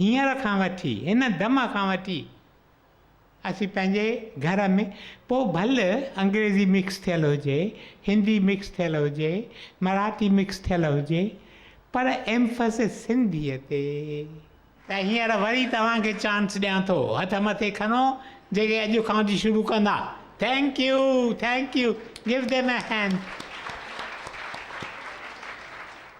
هينئر کان وٺي، هن دم کان وٺي اسين پنهنجي گهر ۾، پوء ڀل انگريزي مڪس ٿيل هجي، هندي مڪس ٿيل هجي، مراٺي مڪس ٿيل هجي، پر ايمفسس سنڌيء تي. ته هينئر وري توهان کي چانس ڏيان ٿو، هٿ مٿي کڻو، جيڪي اڄ کان وٺي شروع ڪندا. Thank you, thank you, give them a hand.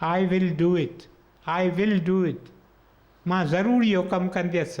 I will do it, I will do it, مان ضرور اهو ڪم ڪنديس.